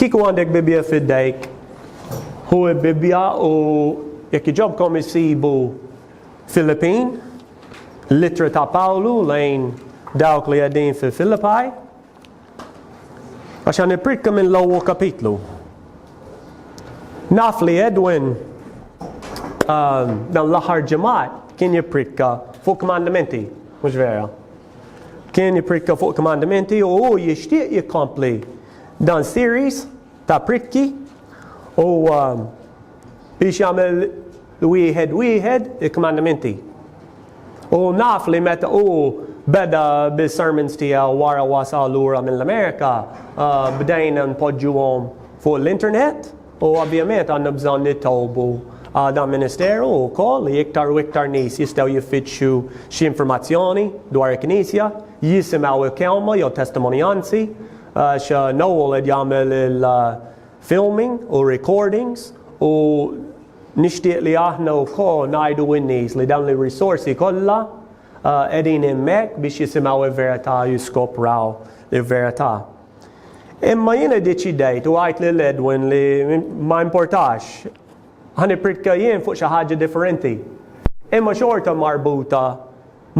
Kieku għandek Bibbja f'idejk, hu l-Bibbja u jekk iġobkom isibu Filippin, l-ittra ta' Pawlu lejn dawk li għedin fi Filippaj, għax għan iprikka minn l-ewwel kapitlu. Naf li Edwin um, dan l-aħħar ġimgħat kien jipprikka fuq kmandamenti, mhux vera. Kien jipprikka fuq kmandimenti u hu jixtieq jikkompli dan series ta' prikki u um, biex jagħmel wieħed wieħed il-kmandimenti. U naf li meta u beda bil-sermons tiegħu wara wasal lura mill-Amerika, uh, bdejna npoġġuhom fuq l-internet U ovvjament għandna bżonn nitolbu għal dan ministeru wkoll li iktar u iktar nies jistgħu jiffittxu xi informazzjoni dwar il-Knisja, jisimgħu l-kelma jew testimonjanzi, għax Noel qed jagħmel il-filming u r-recordings u nixtieq li aħna wkoll ngħidu lin-nies li dawn ir-risorsi kollha qegħdin hemmhekk biex jisimgħu l-verità u jiskopraw il-verità. Imma jien iddeċidejt u għidt lil Edwin li ma importax ħa nippritka jien fuq xi ħaġa differenti. Imma xorta marbuta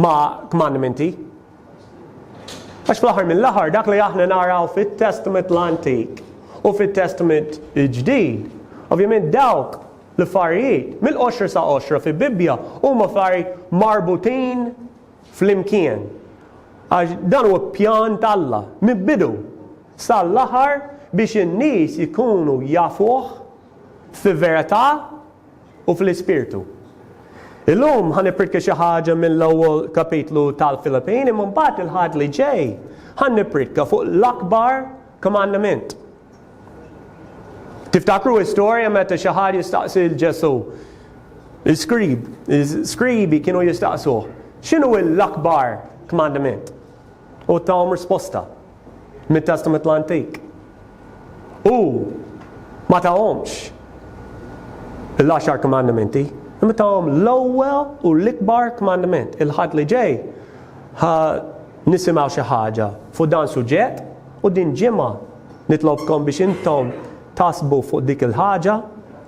ma' kmandmenti. Għax fl-aħħar mill-aħħar dak li aħna naraw fit-Testament l-Antik u fit-Testament il-Ġdid, ovvjament dawk l-affarijiet mill-qoxra sa qoxra fil-Bibbja huma affarijiet marbutin Flimkien. Għax dan huwa pjan t'Alla, mill-bidu sal-aħħar biex in-nies ikunu jafuh f'verità u fl-Ispirtu. Illum ħa nippritka xi ħaġa mill-ewwel kapitlu tal-Filippin imma mbagħad il-Ħadd li ġej ħa nippritka fuq l-akbar kmandament. Tiftakru l-istorja meta xi ħadd jistaqsi l Ġesù? Il-skrib, il-skribi kienu jistaqsuh, x'inhu l-akbar kmandament? U tawhom risposta mit-Testament l-Antik. U ma tawhomx l-għaxar kmandamenti, imma tawhom l-ewwel u l-ikbar kmandament. Il-ħadd li ġej ħa nisimgħu xi ħaġa fuq dan suġġett U din ġimgħa nitlobkom biex intom taħsbu fuq dik il-ħaġa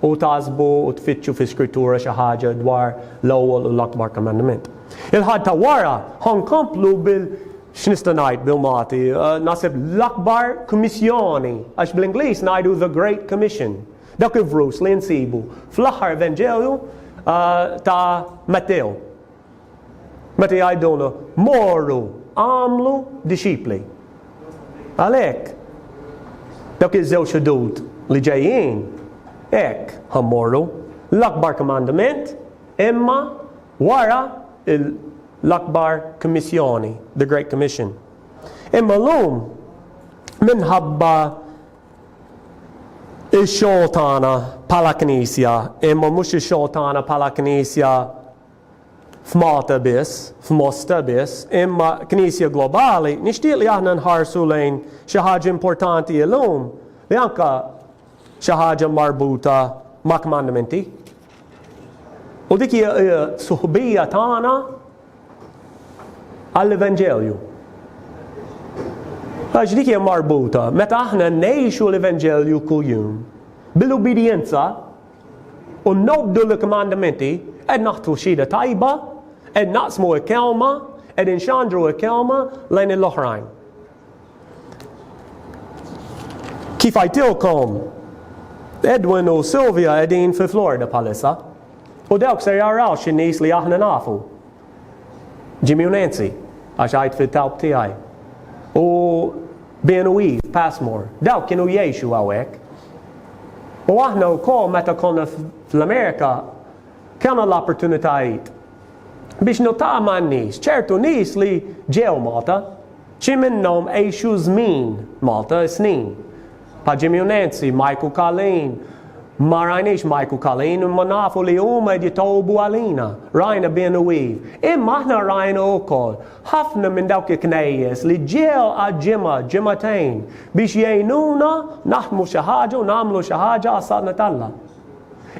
u taħsbu u tfittxu fl-Iskrittura xi ħaġa dwar l-ewwel u l-akbar komandament. Il-Ħadd ta' wara ħa nkomplu bil x'nista' ngħid bil-Malti, naħseb l-akbar kummissjoni, għax bl-Ingliż ngħidu the Great Commission. Dak il-vrus li nsibu fl-aħħar Evanġelju ta' Mattew. Meta jgħidulna, Morru, agħmlu dixxipli. Għalhekk, dawk iż-żewġ ħdud li ġejjin, hekk ħa mmorru, l-akbar kmandment, imma wara l-akbar kmissjoni, the Great Commission. Imma llum minħabba ix-xogħol tagħna bħala Knisja, imma mhux ix-xogħol tagħna bħala Knisja f'Malta biss, f'Mosta biss, imma Knisja globali, nixtieq li aħna nħarsu lejn xi ħaġa importanti illum li anke xi ħaġa marbuta ma' kmandmenti. U dik hija suħbija tagħna għall-Evanġelju. Għax dik hija marbuta, meta aħna ngħixu l-Evanġelju kuljum, bil-ubidjenza U nobdu l-kmandmenti, qed naħtfu xhieda tajba, qed naqsmu l-kelma, qed inxandru l-kelma lejn il-oħrajn. Kif għajtilkom, Edwin u Sylvia qegħdin fi Florida bħalissa. U dawk se jaraw xi nies li aħna nafu. Jimmy u Nancy, għax għidt fil-kawb tiegħi, u Ben u Eve Passmore, dawk kienu jgħixu hawnhekk. U aħna wkoll meta konna fl-Amerika kellna l-opportunitajiet biex niltaqgħu ma' nies, ċertu nies li ġew Malta, xi minnhom għexu żmien Malta, snin. Pa' Jimmy Nancy, Mike u Colleen, Ma rajniex Mike u Colleen imma nafu li huma qed jitolbu għalina. Rajna Ben u Eve. Imma aħna rajna wkoll ħafna minn dawk il-knejjes li ġew għal ġimgħa, ġimgħatejn biex jgħinuna naħdmu xi ħaġa u nagħmlu xi ħaġa għas-saltna t'Alla.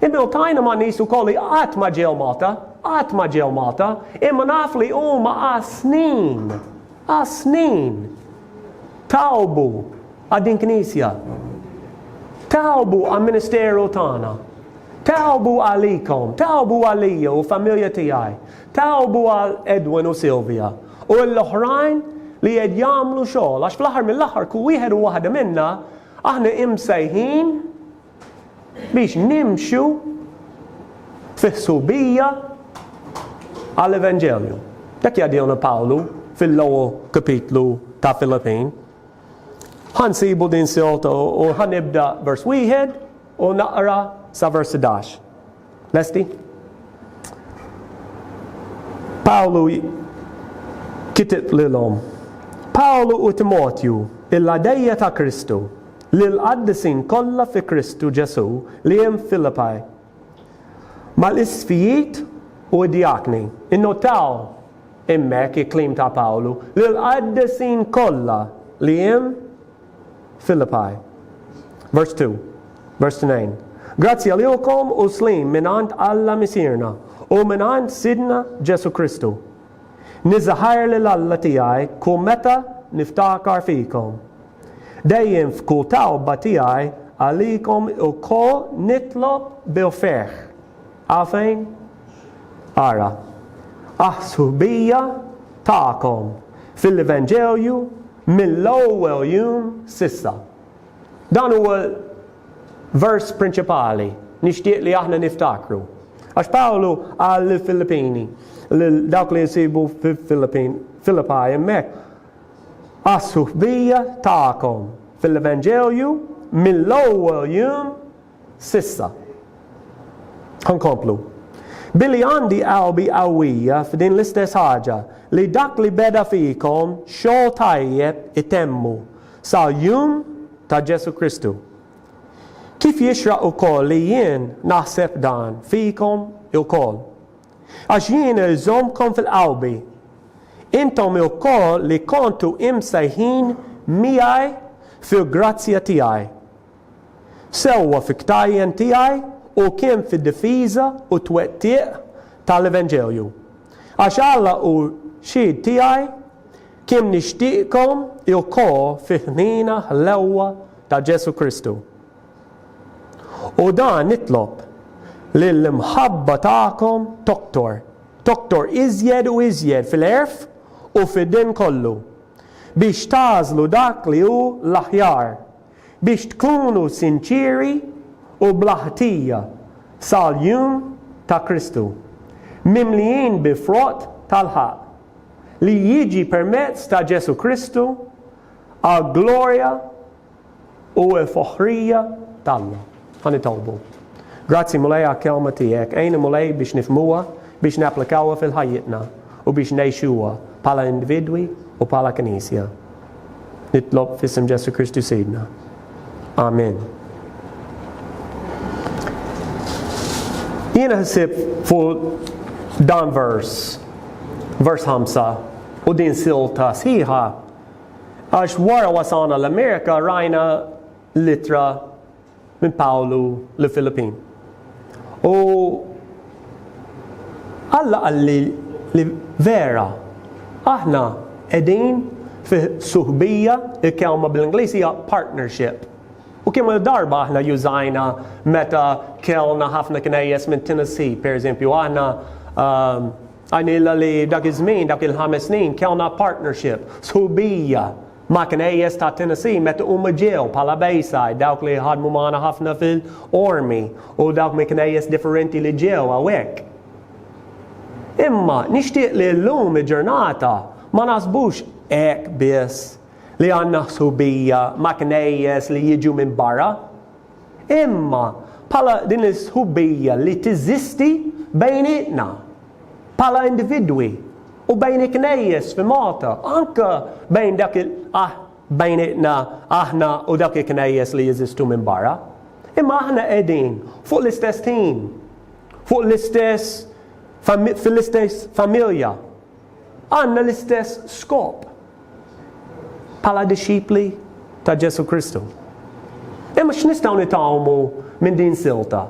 Imma iltajna ma' nies ukoll li qatt ma ġew Malta, qatt ma ġew Malta, imma naf li huma għas-snin, għas-snin, talbu Għal din Knisja. Tagħbu għall-ministeru tagħna. Tagħbu għalikom, tagħbu għalija u familja tiegħi. Tagħbu għal Edwin u Sylvia u l-oħrajn li qed jagħmlu xogħol għax fl-aħħar mill-aħħar kull wieħed u waħda minna aħna imsejħin biex nimxu fi ħsubija għall-Evanġelju. Dak jgħidilna Pawlu fil-ewwel kapitlu ta' Filippin, Ħa nsibu din sew u ħa nibda vers wieħed u naqra sa vers 11. Lesti? Pawlu kitib lilhom. Pawlu u Timotju, il-għadejja ta' Kristu, lil qaddisin kollha fi Kristu Ġesu li hemm Filippi. Mal-isfijiet u d-djakni, innotaw Hemmhekk il-kliem ta' Pawlu lill-qaddisin kollha li hemm Filippi. Vers 2, vers 2, Grazzja lilkom u sliem mingħand Alla Misierna u mingħand Sidna Ġesù Kristu. Niżżaħħar lil Alla tiegħi kull meta niftakar fikom. Dejjem f'kull talba tiegħi għalikom ilkoll nitlob bil-ferħ. Għafejn? Ara, aħ-sħubija tagħkom fil-Evanġelju mill-ewwel jum s'issa. Dan huwa l-vers prinċipali nixtieq li aħna niftakru. Għax Pawlu qal lill-Filippini, lil dawk li jsibu fil-Filippin, Filippa hemmhekk, għas-suħbija tagħkom fil-Evanġelju mill-ewwel jum s'issa. Ħa nkomplu. Billi għandi qalbi qawwija f'din l-istess ħaġa, li dak li beda fikom xogħol tajjeb itemmu, sal-jum ta' Ġesù Kristu. Kif jixraq ukoll li jien naħseb dan fikom ukoll. Għax jien irżommkom fil-qalbi, intom ukoll li kontu imsejħin miegħi fil-grazzja tiegħi. sewwa fil-ktajjen tiegħi u kien fid-difiża u t-twettiq tal-Evenġelju. Għax Alla hu xhied tiegħi kemm nixtieqkom ilkoll fi ħniena ħlewwa ta' Ġesù Kristu. U dan nitlob, li l-imħabba tagħkom toktor, toktor iżjed u iżjed fil-għerf u fid-dinn kollu, biex tagħżlu dak li hu l-aħjar, biex tkunu sinċieri u bla ħtija sal-jum ta' Kristu, mimlijin bi frott tal-ħaqq, li jiġi permezz ta' Ġesù Kristu għall-glorja u l-foħrija t'Alla. Ħa nitolbu. Grazzi, Mulej, għall-Kelma tiegħek. Għinna, Mulej, biex nifhmuha, biex napplikawha fil-ħajjitna, u biex ngħixuha bħala individwi u bħala Knisja. Nitlob f'isem Ġesù Kristu Sidna. Amen. Jiena ħsib fuq dan vers, vers 5, u din silta sħiħa, għax wara wasalna l-Amerika rajna L-ittra minn Pawlu lill-Filippin. U Alla qalli li vera aħna qegħdin fi suħbija, il-kelma bl-Ingliż hija partnership. U kemm il-darba aħna jużajna meta kellna ħafna knejjes minn Tennessee, pereżempju, aħna ehm, għajnilla li dak iż-żmien, dak il-ħames snin, kellna partnership, suħbija Ma' knejjes ta' Tennessee meta huma ġew bħala Bayside dawk li ħadmu magħna ħafna fil, Army u dawk minn knejjes differenti li ġew hawnhekk. Imma nixtieq li llum il-ġurnata ma naħsbux hekk biss li għandna ħsubija ma' knejjes li jiġu minn barra. imma bħala din is-sħubija li teżisti bejnietna bħala individwi u bejn il-Knejjes fi Malta, anke bejn dak bejnietna aħna u dak il-Knejjes li jeżistu minn barra. Imma aħna qegħdin fuq l-istess team, fuq l-istess fil-istess familja. Għandna l-istess skop bħala dixxipli ta' Ġesù Kristu. Imma x'nistgħu nitgħallmu minn din silta?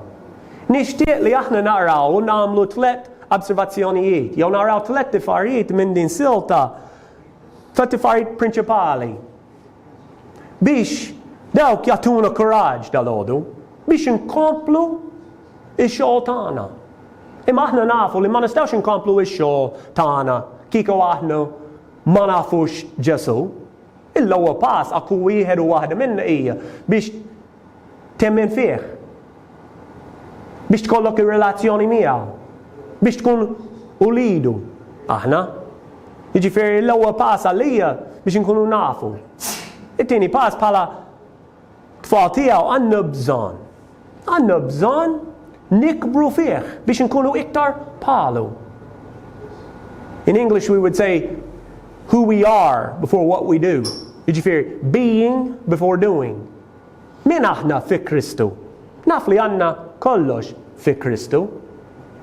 Nixtieq li aħna naraw u nagħmlu tliet observazzjonijiet jew naraw tliet tifarijiet minn din silta ta' tifarijiet prinċipali biex dawk jagħtuna kuraġġ dal-għodu biex inkomplu Ix-xogħol tagħna. Imma aħna nafu li ma nistgħux inkomplu x-xogħol tagħna kieku aħna ma nafux Ġesù. Il-ewwel pass għal kull wieħed u waħda minna hija biex temmen fih, biex tkollok ir-relazzjoni miegħu, biex tkun ulidu aħna. Jiġifieri l-ewwel pass għalija biex inkunu nafu. It-tieni pass bħala Tfal tiegħu għandna bżonn. Għandna bżonn nikbru fih biex inkunu iktar bħalu. In English we would say who we are before what we do. Jiġifieri being before doing. Min aħna fi Kristu? Naf li għandna kollox fi Kristu.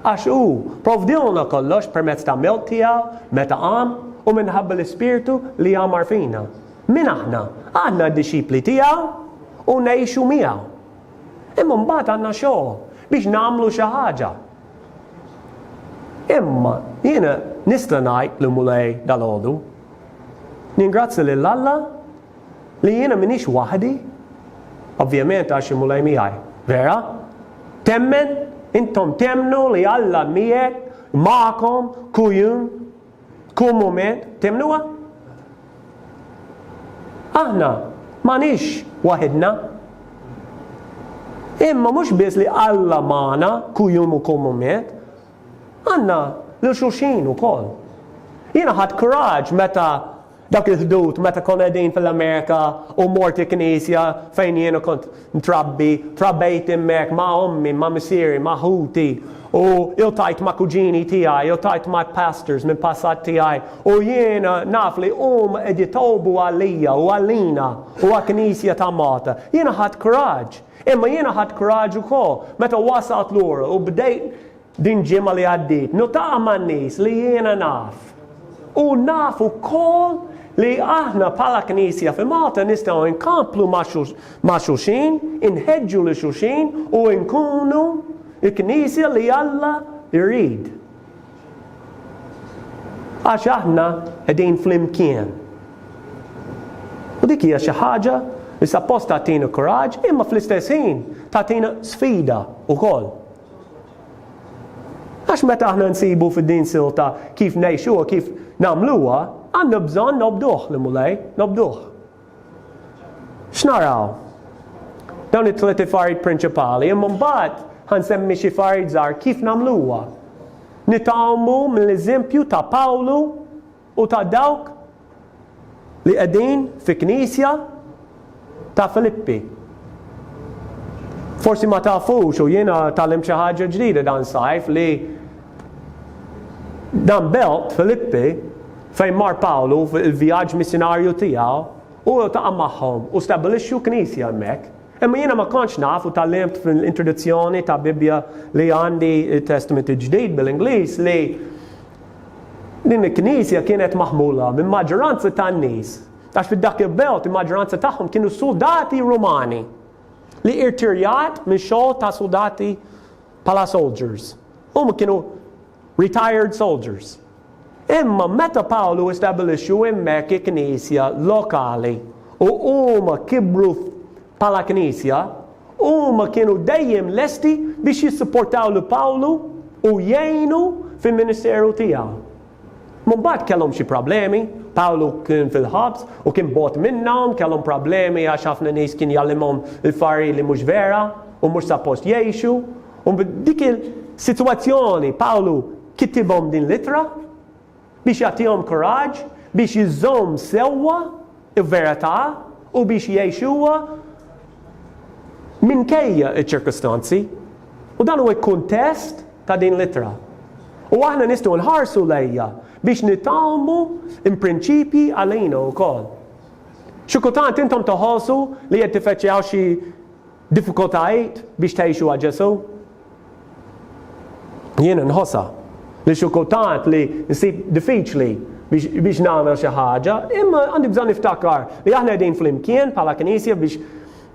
Għax hu provdilna kollox permezz ta' mewt tiegħu meta qam u minħabba l-ispirtu li għamar fina. Min aħna? Aħna d-dixxipli tiegħu u ngħixu miegħu. Imma mbagħad għandna xogħol biex nagħmlu xi ħaġa. Imma jiena nista' ngħid lil Mulej dalgħodu, ningrazzja lil Alla li jiena m'iniex waħdi, ovvjament għax il-Mulej miegħi, vera? Temmen, intom temmnu li Alla miegħek, magħkom, kuljum, Tkun mument, temnuha? Aħna m'għanix waħidna. Imma mhux biss li Alla magħna kull jum u kull mument, għandna lil xulxin ukoll. Jiena ħadd kuraġġ meta Dak il-ħdud meta konna qegħdin fil-Amerika u mort il-knisja fejn jiena kont mtrabbi, trabejt hemmhekk ma' ommi, ma' missieri, ma' ħuti u iltajt ma' kuġini tiegħi, iltajt ma' pastors minn passat tiegħi u jiena naf li huma qed jitolbu għalija u għalina u għall-Knisja ta' Malta. Jiena ħadt kuraġġ. Imma jiena ħadt kuraġġ ukoll meta wasalt lura u bdejt Din ġimgħa li għaddiet notaqgħa ma' nies li jiena naf u naf ukoll li aħna bħala Knisja fi Malta nistgħu nkomplu ma' xulxin, inħeġġu lil xulxin u nkunu l-Knisja li Alla jrid. Għax aħna qegħdin flimkien. U dik hija xi ħaġa li sappost tagħtina kuraġġ imma fl-istess ħin tagħtina sfida wkoll. Għax meta aħna nsibu fi din silta kif ngħixu u kif nagħmluha, għandna bżonn nobduh li Mulej, nobduh. X'naraw? Dawn it-tliet ifarid prinċipali, imma mbagħad ħansemmi xi farid żgħar kif nagħmluha. Nitgħalmu mill-eżempju ta' Pawlu U ta' dawk li qegħdin fi knisja ta' Filippi. Forsi ma tafux u jiena tagħlimt xi ħaġa ġdida dan sajf li dan belt Filippi fejn mar Pawlu fil-vjaġġ missjonarju tiegħu u taqa' magħhom u stabbilixxu knisja hemmhekk. Imma jiena ma kontx naf u tgħallimt fl-introduzzjoni ta' Bibbja li għandi t-Testament il-Ġdid bil-Ingliż li Din il-knisja kienet maħmula minn maġġoranza tan-nies, għax fi dak il-belt il-maġġoranza tagħhom kienu suldati Rumani li irtirjat minn xogħol ta' suldati bħala soldiers. Huma kienu retired soldiers. Imma meta Pawlu istabbilixxu hemmhekk il-knisja lokali u huma kibru Bħala Knisja, huma kienu dejjem lesti biex jissupportaw lil Pawlu u jgħinu fil-ministeru tiegħu. Imma mbagħad kellhom xi problemi, Pawlu kien fil-ħabs u kien bogħod minnhom, kellhom problemi għax ħafna nies kien jgħallimhom l-affarijiet li mhux vera u mhux suppost jgħixu. U dik il-sitwazzjoni Pawlu kitibhom din l-ittra biex jagħtihom kuraġġ biex iżżomm sewwa l-verità u biex jgħixuha minkejja ċ-ċirkustanzi. U dan huwa l-kuntest ta' din l-ittra. U aħna nistgħu nħarsu lejja biex nitgħallmu l-prinċipji għalina wkoll. Xi kultant intom toħolsu li qed tiffaċċjaw xi Diffikultajiet biex tgħixuha Ġesù? Jiena nħossha li xi kultant li nsib diffiċli biex nagħmel xi ħaġa, imma għandi bżonn niftakar li aħna qegħdin flimkien bħala Knisja biex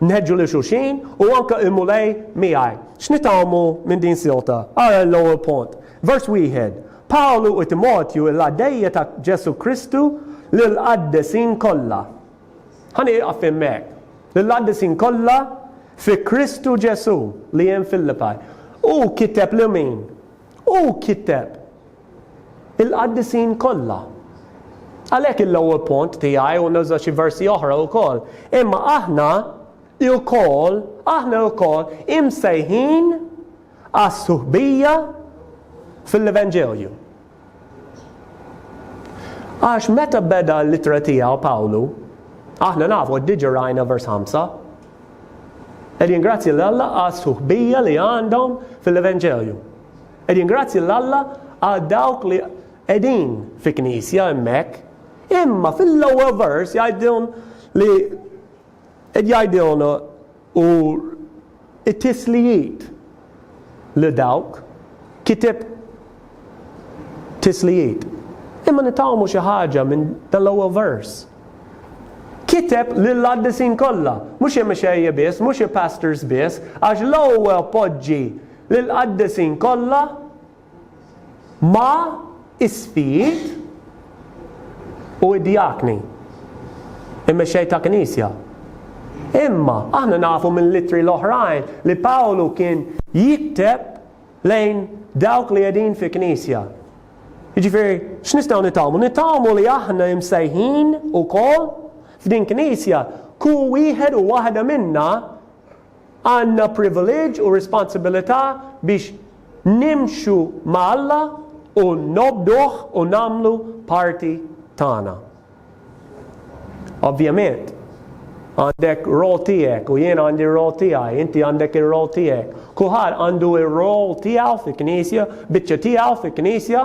nħeġġu lil xulxin u anke l-Mulej miegħi. X'nitgħallmu minn din silta? Ara l-ewwel punt. Vers wieħed. Pawlu u Timotju l-għaddejja ta' Ġesù Kristu lill-qaddesin kollha. Ħa nieqaf hemmhekk. Lill-qaddisin kollha fi Kristu Ġesù li hemm Fillippaj. Hu kiteb lil min? Hu kiteb il-qaddisin kollha. Għalhekk il-ewwel punt tiegħi u nuża xi versi oħra wkoll. Imma aħna wkoll, aħna wkoll imsejħin għas-suħbija fil-Evanġelju. Għax meta beda l-ittra tiegħu Pawlu, aħna nafu qed diġà rajna vers 5, qed jingrazzja lil Alla għas-suħbija li għandhom fil-Evanġelju. Qed jingrazzja lil Alla għal dawk li qegħdin fi knisja hemmhekk, imma fil-ewwel vers jgħidilhom li Il-jgħidilna u t-tislijiet li dawk kiteb tislijiet. Imma nitgħallmu xi ħaġa minn dan l-ewwel vers. Kiteb lill-qaddisin kollha, mhux il-mexejja biss, mhux il-pastors biss, għax l-ewwel poġġi lill-qaddisin kollha ma' isqfijiet u d-djakni, il-mexxej ta' Knisja. Imma aħna nafu minn l-ittri l-oħrajn li Pawlu kien jikteb lejn dawk li qegħdin fi Knisja. Jiġifieri, x'nistgħu nitgħallmu? Nitgħallmu li aħna imsejħin ukoll f'din Knisja, kull wieħed u waħda minna, Għandna privileġġ u responsibilità biex nimxu ma' Alla u nobduh u nagħmlu parti tagħna. Ovvjament, għandek role tiegħek u jien għandi r-role tiegħi, inti għandek ir-role tiegħek. Kulħadd għandu r-role tiegħu fil-Knisja, biċċa tiegħu fil-Knisja,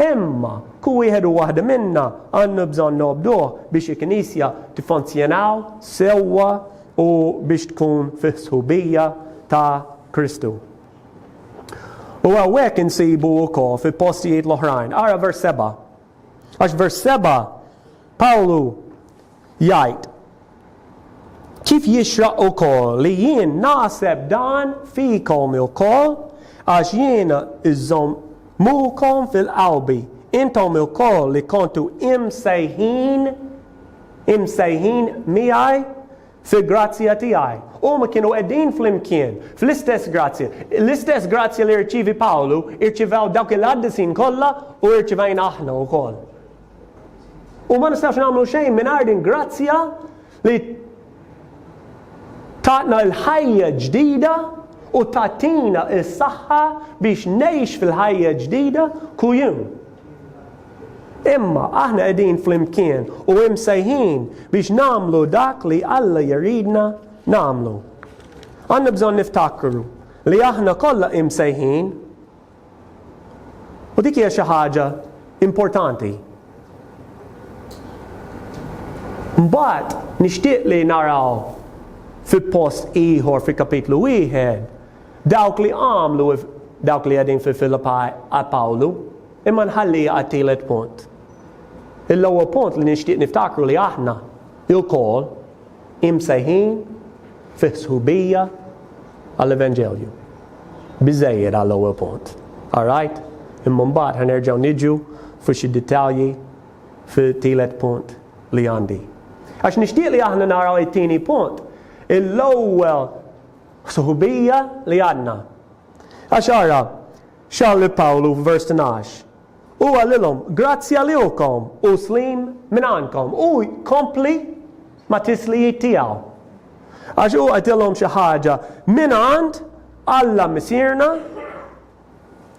imma kull wieħed u waħda minna għandna bżonn nobduh biex il-Knisja tiffunzjonaw sewwa. u biex tkun fis-sħubija ta' Kristu. U hawnhekk insibu wkoll fi postijiet l-oħrajn, ara vers 7. Għax vers 7 Pawlu jgħid kif jixraq ukoll li jien naħseb dan fikom ukoll għax jien iżżomm mukom fil-qalbi intom ukoll li kontu imsejħin imsejħin miegħi fil-grazzja tiegħi. Huma kienu qegħdin flimkien fl-istess grazzja. L-istess grazzja li rċievi Pawlu, irċivew dawk il-qaddisin kollha u rċivejna aħna wkoll. U ma nistax nagħmlu xejn mingħajr din grazzja li Tagħna l-ħajja ġdida u tagħtina s-saħħa biex ngħix fil-ħajja ġdida kull jum. Imma aħna qegħdin flimkien u imsejħin biex nagħmlu dak li Alla jridna nagħmlu. Għandna bżonn niftakru li aħna kollha imsejħin U dik hija xi ħaġa importanti. Mbagħad nixtieq li naraw fi post ieħor fi kapitlu wieħed dawk li għamlu dawk li qegħdin fi Filipaj għal Pawlu, imma nħalli għat-tielet punt. Il-ewwel punt li nixtieq niftakru li aħna il-kol Imsejħin fi sħubija għall-Evanġelju. Biżżejjed għall-ewwel punt. All right? Imma mbagħad ħa nerġgħu niġu fuq xi dettalji fit-tielet punt li għandi. Għax nixtieq li aħna naraw it-tieni punt, l-ewwel sħubija li għandna. Għax ara, x'għal li Pawlu f'vers 12, U qalilhom, Grazzi għaliukom u sliem mingħandkom. U jkompli ma' tislijiet tiegħu. Għax hu qedilhom xi ħaġa mingħand Alla Missierna,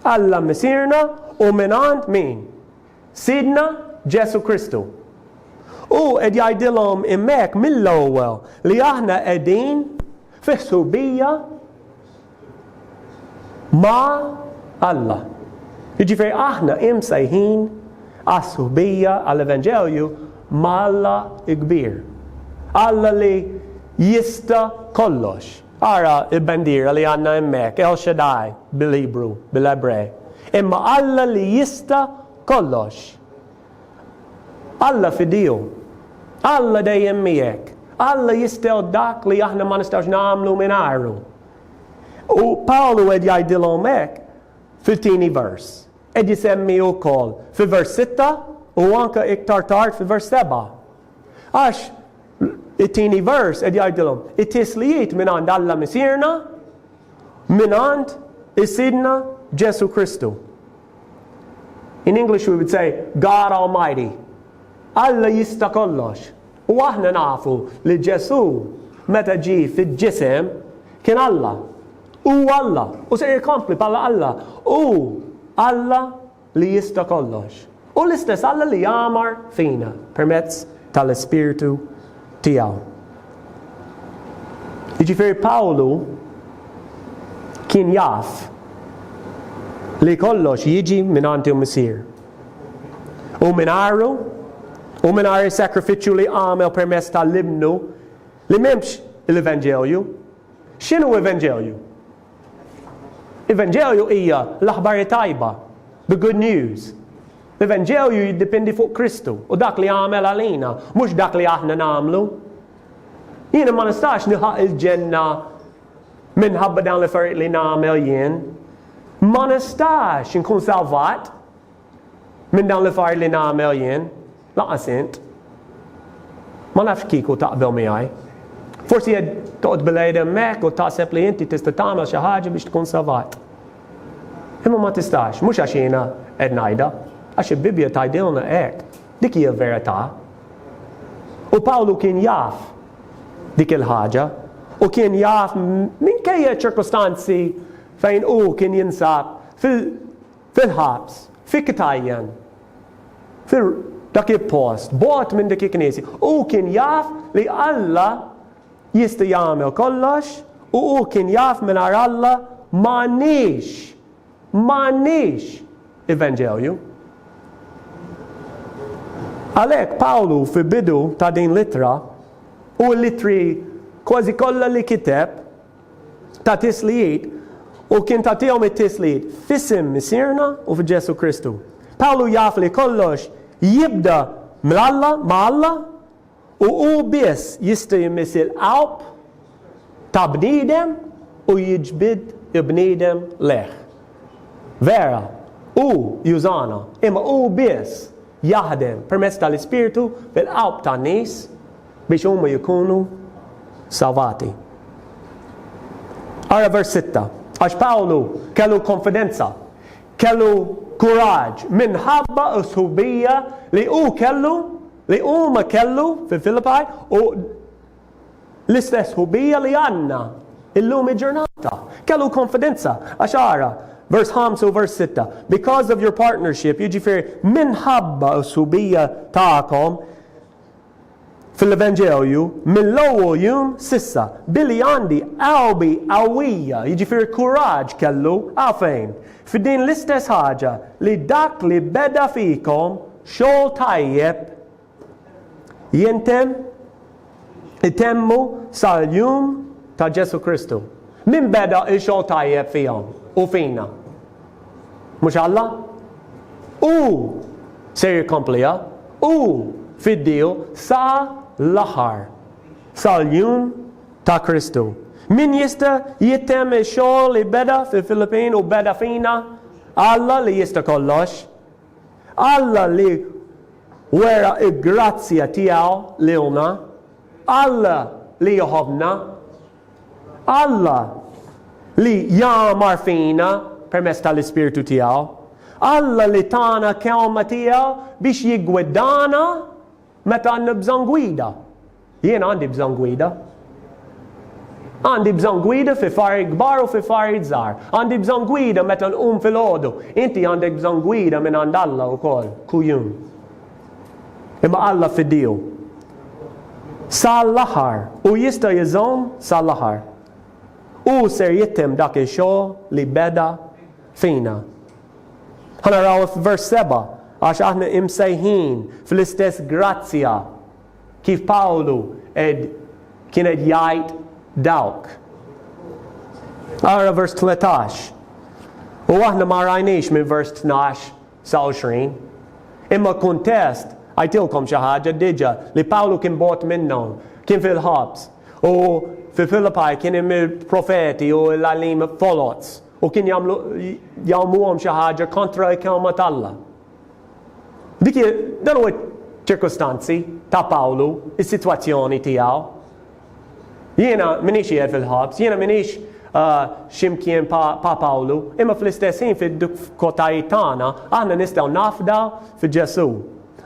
Alla Missierna u mingħand min? Sidna Ġesù Kristu. Hu qed jgħidilhom hemmhekk mill-ewwel li aħna qegħdin fi ħsubija, ma' Alla. Jiġifieri aħna imsejħin għas-sħubija, għall-evanġelju ma' Alla l-kbir. Alla li jista' kollox. Ara l-bandiera li għandna hemmhekk, El Shaddai bil-Ibru, bil-Ebrej. Imma Alla li jista' kollox. Alla f'idejhom. Alla dejjem miegħek. Alla jistgħu dak li aħna ma nistgħux nagħmlu mingħajru. U Pawlu qed jgħidilhom hekk fit-tieni vers. Qed jisemmi wkoll fi vers 6 u anke iktar tard fi vers 7. Għax it-tieni vers qed jgħidilhom it-tislijiet minn għand Alla Misirna minn għand is-Sidna Ġesu Kristu. In English we would say God Almighty. Alla jista' kollox. U aħna nafu li Ġesù meta ġie fil-ġisem kien Alla. Hu Alla u ser jkompli bħala Alla. Hu Alla li jista' kollox. Hu l-istess Alla li jagħmar fina permezz tal-Ispirtu tiegħu. Jiġifieri Pawlu kien jaf li kollox jiġi mingħand il-Missier. U mingħajru u mingħajr is-sakrifiċċju li għamel permezz tal-Ibnu li m'hemmx l-Evanġelju. X'inhu Evanġelju? L-Evanġelju hija l-aħbar it-tajba, the good news. L-Evanġelju jiddependi fuq Kristu u dak li għamel għalina, mhux dak li aħna nagħmlu. Jiena ma nistax nilħaq il-ġenna minħabba dawn l-affarijiet li nagħmel jien. Ma nistax inkun salvat Minn dawn l-affarijiet li nagħmel jien, lanqas int. Ma nafx kieku taqbel miegħi. Forsi qed toqgħod bil-għid hemmhekk u taħseb li inti tista' tagħmel xi ħaġa biex tkun salvat. Imma ma tistax, mhux għax jiena qed ngħidha, għax il-Bibbja tgħidilna hekk. Dik hija l-verità. U Pawlu kien jaf dik il-ħaġa u kien jaf minkejja ċirkostanzi fejn u kien jinsab Fil-ħabs, fi Katajan, fi dak il-post, bogħod minn dik il-knisja, hu kien jaf li Alla jista' jagħmel kollox u hu kien jaf mingħajr Alla m'għandniex, m'għandniex Evanġelju. Għalhekk Pawlu fil-bidu ta' din l-ittra u l-ittri kważi kollha li kiteb, ta' tislijiet u kien tagħtihom it-tislijiet f'isem Missierna u f'Ġesù Kristu. Pawlu jaf li kollox jibda ml-Alla ma' Alla u hu biss jista' jmiss il-qalb ta' bniedem u jiġbid il-bniedem lejh. Vera, hu jużana, imma hu biss jaħdem permezz tal-Ispirtu fil-qalb tan-nies biex huma jkunu salvati. Ara vers 6. Għax Pawlu kellu konfidenza, kellu kuraġġ minħabba s-subija li hu kellu, li huma kellu fil-Filipaj u l-istess subija li għandna illum il-ġurnata. Kellu konfidenza, għax ara, vers 5 u vers 6, because of your partnership, jiġifieri minħabba s-subija tagħkom Fil-Evanġeoju, mill-ewwel jum s'issa, billi għandi qalbi qawwija, jiġifieri kuraġġ kellu, għalfejn, f'din l-istess ħaġa, li dak li beda fikom xogħol tajjeb, jintemm, itemmu sal-jum ta' Ġesù Kristu. Min beda x-xogħol tajjeb fihom u fina? Mhux Alla? Hu ser jikkompliha, hu fiddieħu sa l-aħħar, sal-jum ta' Kristu. Min jista' jittemm ix-xogħol li beda fil-Filippin u beda fina? Alla li jista' kollox. Alla li wera l-grazzja tiegħu lilna. Alla li jħobbna. Alla, li jagħmar fina permezz tal-Ispirtu tiegħu, Alla li tana kelma tiegħu biex jiggwidana meta għandna bżonn gwida. Jien għandi bżonn gwida. Għandi bżonn gwida fi fari kbar u fi fari żgħar. Għandi bżonn gwida meta nqum fil-ħodu. Inti għandek bżonn gwida minn għand Alla wkoll, kujun. Imma Alla f'idiju. Sa l-aħħar, hu jista' jżomm sa l-aħħar. Hu ser jittimm dak ix-xogħol li beda fina. Ħa naraw f'vers seba', għax aħna imsejħin fl-istess grazzja kif Pawlu qed kien qed jgħid dawk. Ara vers 13. U aħna ma rajniex minn vers 12 sa 20. Imma kuntest, għidtilkom xi ħaġa diġà, li Pawlu kien bogħod minnhom, kien fil-ħabs, u fi Filippi kien hemm il-profeti u l-għalliem foloz, u kien jagħmlu jgħummhom xi ħaġa kontra l-kelma t'Alla. Dik dan huwa ċ-ċirkustanzi ta' Pawlu, is-sitwazzjoni tiegħu. Jiena minix qiegħed fil-ħabs, jiena minix ah, ximkien pa' Pawlu, imma fl-istess ħin fid-dukkotajiet tagħna aħna nistgħu nafda fi Ġesu.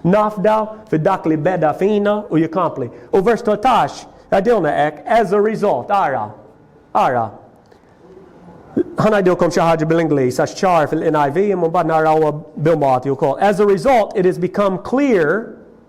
Nafda fi dak li beda fina u jikampli. U vers 13 għadilna ek, as a result, ara, ara. Ħanajdilkom xi ħaġa bil-Ingliż għax ċar fil-NIV imma bad naraw bil-Malti wkoll. As a result, it has become clear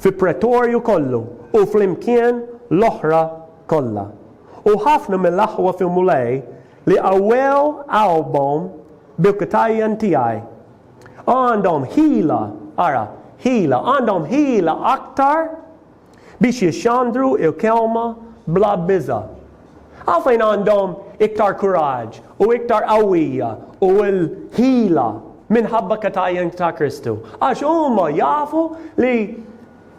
fi pretorju kollu u flimkien l-oħra kollha. U ħafna mill-aħwa fil-Mulej li qawwew qalbhom bil-ktajjen tiegħi, għandhom ħila, ara, ħila, għandhom ħila aktar biex jixxandru l-kelma bla biża'. Hawn fejn għandhom iktar kuraġġ u iktar qawwija u l-ħila minħabba katajjen ta' Kristu. Għax huma jafu li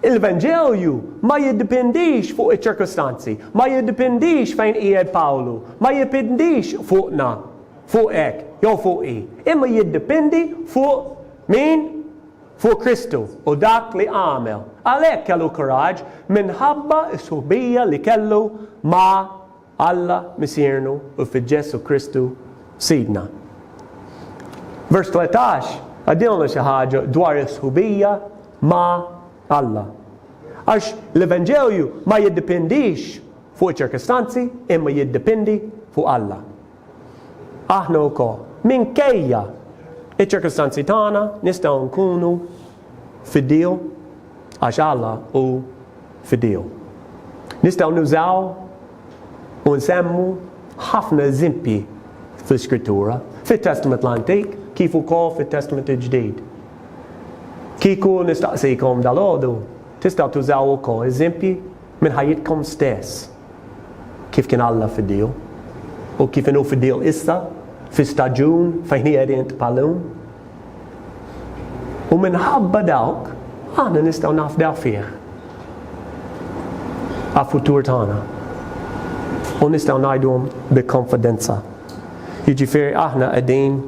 Il-Venġelju ma jiddipendix fuq iċ-ċirkustanzi, ma jiddipendix fejn qiegħed Pawlu, ma jiddipendix fuqna, fuq hekk, jew fuq hi, imma jiddipendi fuq min fuq Kristu u dak li għamel. Għalhekk kellu kuraġġ minħabba s-sħubija li kellu ma' Alla Missiernu u fi Ġesù Kristu Sidna. Vers 13 għaddilna xi ħaġa dwar is-sħubija ma' Alla. Għax l-Evanġelju ma jiddipendix fuq iċ-ċirkostanzi imma jiddipindi fuq Alla. Aħna wkoll, minkejja iċ-ċirkustanzi tagħna, nistgħu nkunu fidiew għax Alla hu fidiew. Nistgħu nużaw u nsemmu ħafna eżempji fl-Iskrittura, fit-Testament l-Antik kif ukoll fit-Testament il-Ġdid. Kieku nistaqsikom dalgħodu, tistgħu tużaw ukoll eżempji minn ħajjitkom stess. kif kien Alla fid-diequ, u kif inhu fid-diequ issa, fi staġun fejn hi għerient bħal illum. U minħabba dawk, aħna nistgħu nafdaw fih għal futur tagħna. U nistgħu ngħidhom bi konfidenza. Jiġifieri aħna qegħdin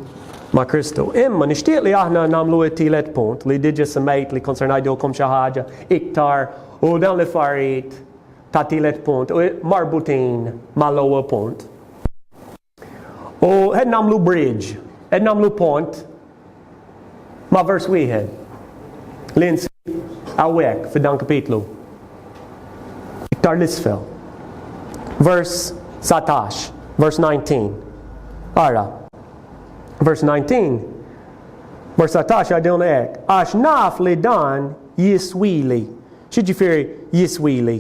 ma' Kristu. Imma nixtieq li aħna nagħmlu t-tielet punt li diġa semmejt li konsernajdu kom xi ħaġa iktar u dawn l-affarijiet ta' tielet punt u marbutin mal-ewwel punt. U qed nagħmlu bridge, qed nagħmlu pont ma' vers wieħed li nsib hawnhekk f'dan kapitlu. Iktar l-isfel. Vers 19, vers 19. Ara. Vers 19. Vers 19 għadilna hekk. Għax naf li dan jiswili X'jiġifieri jiswili?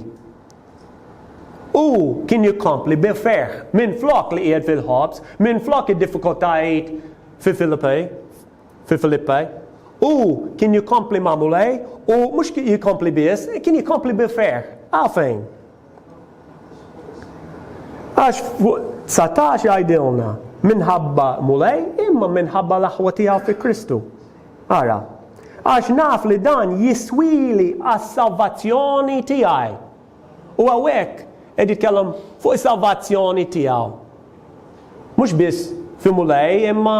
Hu kien jikkompli bi ferħ, minflok li qiegħed fil-ħobż, minflok id-diffikultajiet fi Filippi, fi Filippi, hu kien jikkompli ma' Mulej u mhux jikkompli biss, kien jikkompli bi ferħ. Għalfejn? Għax fuq 19 jgħidilna minħabba Mulej imma minħabba l-aħwa tiegħu fi Kristu. Ara, għax naf li dan jiswili għas-salvazzjoni tiegħi. U hawnhekk qed jitkellem fuq is-salvazzjoni tiegħu. Mhux biss fi Mulej imma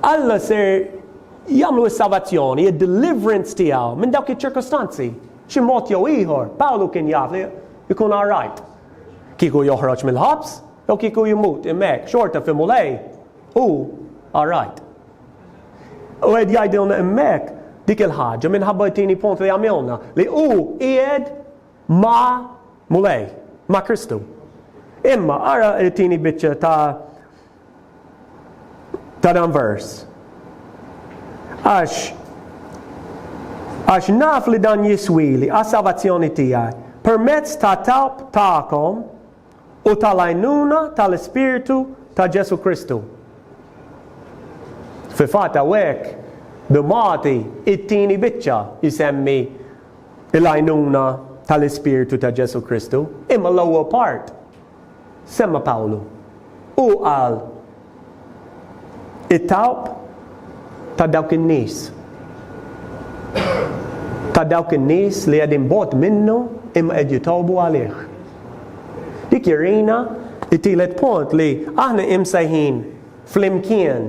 Alla ser jagħmlu s-salvazzjoni, id-deliverance tiegħu minn dawk iċ-ċirkostanzi. B'xi mod jew ieħor, Pawlu kien jaf li jkun all right kieku joħroġ mill-ħabs jew kieku jmut, imma hekk xorta fi Mulej hu all right. U qed jgħidilna hemmhekk dik il-ħaġa minħabba t-tieni punt li għamilna, li hu qiegħed ma' Mulej, ma' Kristu. Imma ara t-tieni biċċa ta' ta' dan vers. Għax għax naf li dan jiswili għas-salvazzjoni tiegħi permezz ta' talb tagħkom u tal-għajnuna tal-Ispirtu ta' Ġesù Kristu. Fil-fatt hawnhekk b'magħti it-tieni biċċa jsemmi l-għajnuna tal-Ispirtu ta' Ġesù Kristu, imma l-ewwel part Semma Pawlu. Hu qal, It-talb ta' dawk in-nies, ta' dawk in-nies li qegħdin bogħod minnu imma qed jitolbu għalih. Dik jurina t-tielet punt li aħna imsejħin flimkien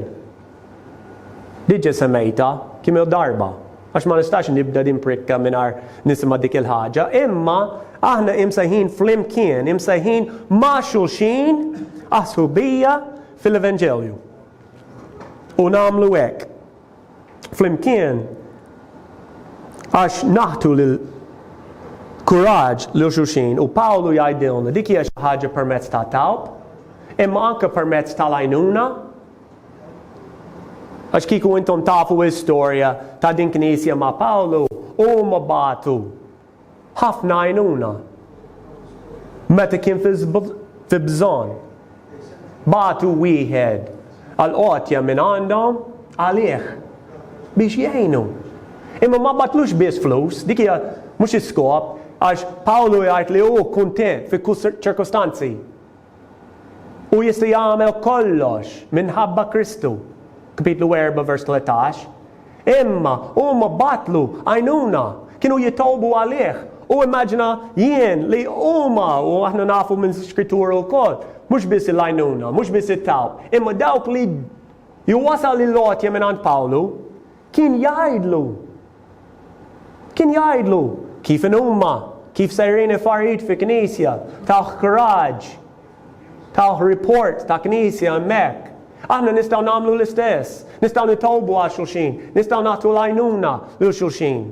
Diġa semejta kemm il darba, għax ma nistax nibda din prikka mingħajr nisimgħa dik il-ħaġa, imma aħna imsejħin flimkien, imsejħin ma' xulxin għas-sħubija fil-Evanġelju. U nagħmlu hekk. Flimkien għax naħtu lil kuraġġ lil xulxin u Pawlu jgħidilna dik hija xi ħaġa permezz ta' talb, imma anke permezz tal-għajnuna Għax kieku intom tafu l-istorja ta' din knisja ma' Pawlu, huma bagħtu ħafna għajnuna meta kien fi bżonn. Bagħtu wieħed għal għotja minn għandhom għalih biex jgħinu. Imma ma batlux biss flus, dik hija mhux is-skop, għax Pawlu jgħid li hu kuntent fi kull ċirkustanzi. Hu jista' jagħmel kollox minħabba Kristu, Kapitlu 4 vers 13. Imma huma batlu għajnuna, kienu jitolbu għalih, u immaġina jien li huma, u aħna nafu minn Skrittura wkoll, mhux biss il-għajnuna, mhux biss it-talb, imma dawk li jwassal il-għotja mingħand Pawlu, Kien jgħidlu. Kien jgħidlu kif inhuma, kif sejrin ifarijiet fi knisja, tawh kuraġġ, tawh report ta' knisja hemmhekk. Aħna nistgħu nagħmlu l-istess. Nistgħu nitolbu għal xulxin, nistgħu nagħtu l-għajnuna lil xulxin.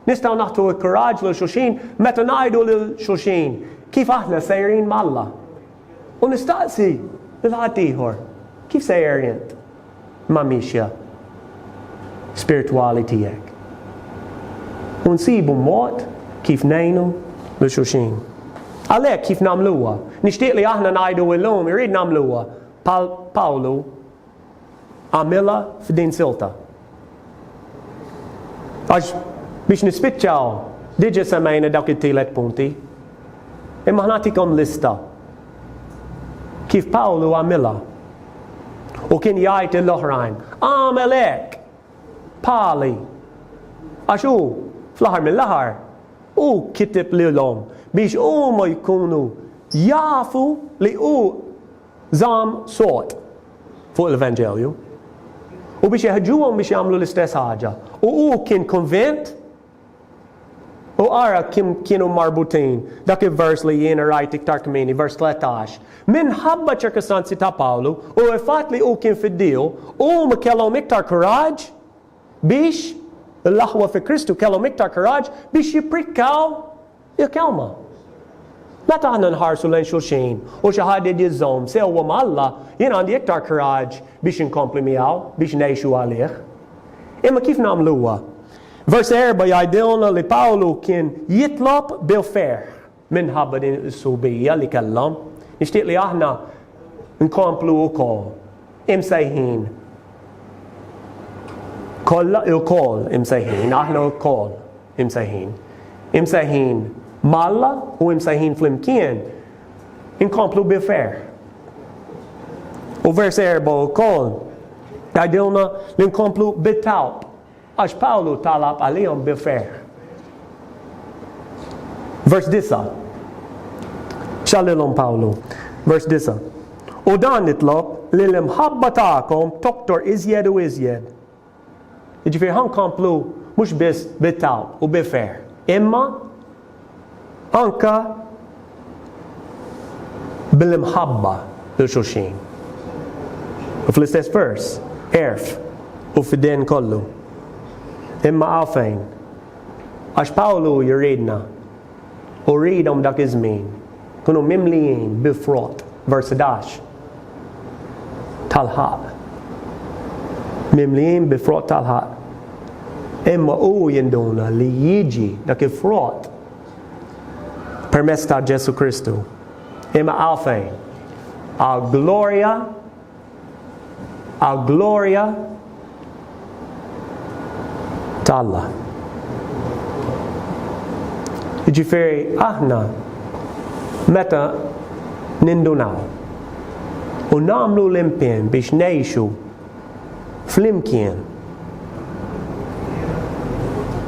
Nistgħu nagħtu l-kuraġġ lil xulxin meta ngħidu lil xulxin kif aħna sejrin m'Alla. U nistaqsi lil ħaddieħor, kif sejjer int mal-mixja spirtwali tiegħek? U nsibu mod kif ngħinu lil xulxin. Għalhekk kif nagħmluha? Nixtieq li aħna ngħidu illum irrid nagħmluha bħal Pawlu għamilha f'din silta. Għax biex nispiċċaw, diġa semmejna dawk it-tielet punti. Imma ħnatikom lista kif Pawlu għamilha. U kien jgħid l-oħrajn, għamel hekk, pali. Għax hu, fl-aħħar mill-aħħar, u kitib lilhom biex huma jkunu jafu li hu Żamm sod fuq l-Evanġelju u biex jeħġuhom biex jagħmlu l-istess ħaġa. U hu kien konvint u ara kim kienu marbutin dak il-vers li jien rajt iktar kmini, vers 13. Minħabba ċirkustanzi ta' Pawlu u l-fatt li hu kien fid-diju, huma kellhom iktar kuraġġ biex l-aħwa fi Kristu kellhom iktar kuraġġ biex jipprikaw Jekk huma. Meta aħna nħarsu lejn xulxin u xi ħadd irid jiżżomm sewwa ma' Alla, jien għandi iktar kuraġġ biex inkompli miegħu, biex ngħixu għalih. Imma kif nagħmluha? Vers erbgħa jgħidilna li Pawlu kien jitlob bil-ferħ minħabba din is-sħubija li kellhom. Nixtieq li aħna nkomplu wkoll imsejħin kollha lkoll imsejħin aħna lkoll Imsejħin. Imsejħin ma' Alla u imsejħin flimkien inkomplu bi ferħ. U vers erba' wkoll tgħidilna li nkomplu bit-talb għax Pawlu talab għalihom bi ferħ. Vers disa' xallilhom Pawlu. Vers disa'. U dan nitlob li l-imħabba tagħkom toktor iżjed u iżjed Jiġifieri ħa nkomplu mhux biss bi tgħawb u bi ferħ, imma anke bl-imħabba lil xulxin. U fl-istess vers, għerf u fidien kollu. Imma hawn fejn. Għax Pawlu jridna U rridhom dak iż-żmien ikunu mimlijin bi frott, vers 11, tal-ħaqq. Mimlijin bi frott tal-ħaqq. Imma hu jinduna li jiġi dak il-frott permezz ta' Ġesù Kristu. Imma għalfejn? Għal glorja għall-glorja ta' Alla. Jiġifieri aħna meta nindunaw u nagħmlu l-impien biex ngħixu flimkien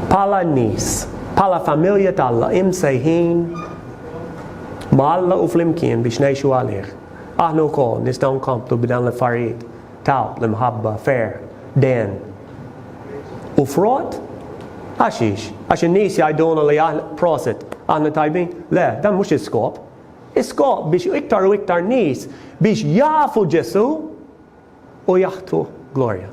bħala nies, bħala familja t'Alla imsejħin ma' Alla u flimkien biex ngħixu għalih. Aħna wkoll nistgħu nkomplu b'dawn l-affarijiet ta' l-imħabba, ferħ, dehen, u frott? Għaxiex? Għax in-nies jgħidulna li aħna, prosit, aħna tajbin? Le, dan mhux l-iskop. L-iskop biex iktar u iktar nies biex jafu Ġesù u jagħtuh glorja.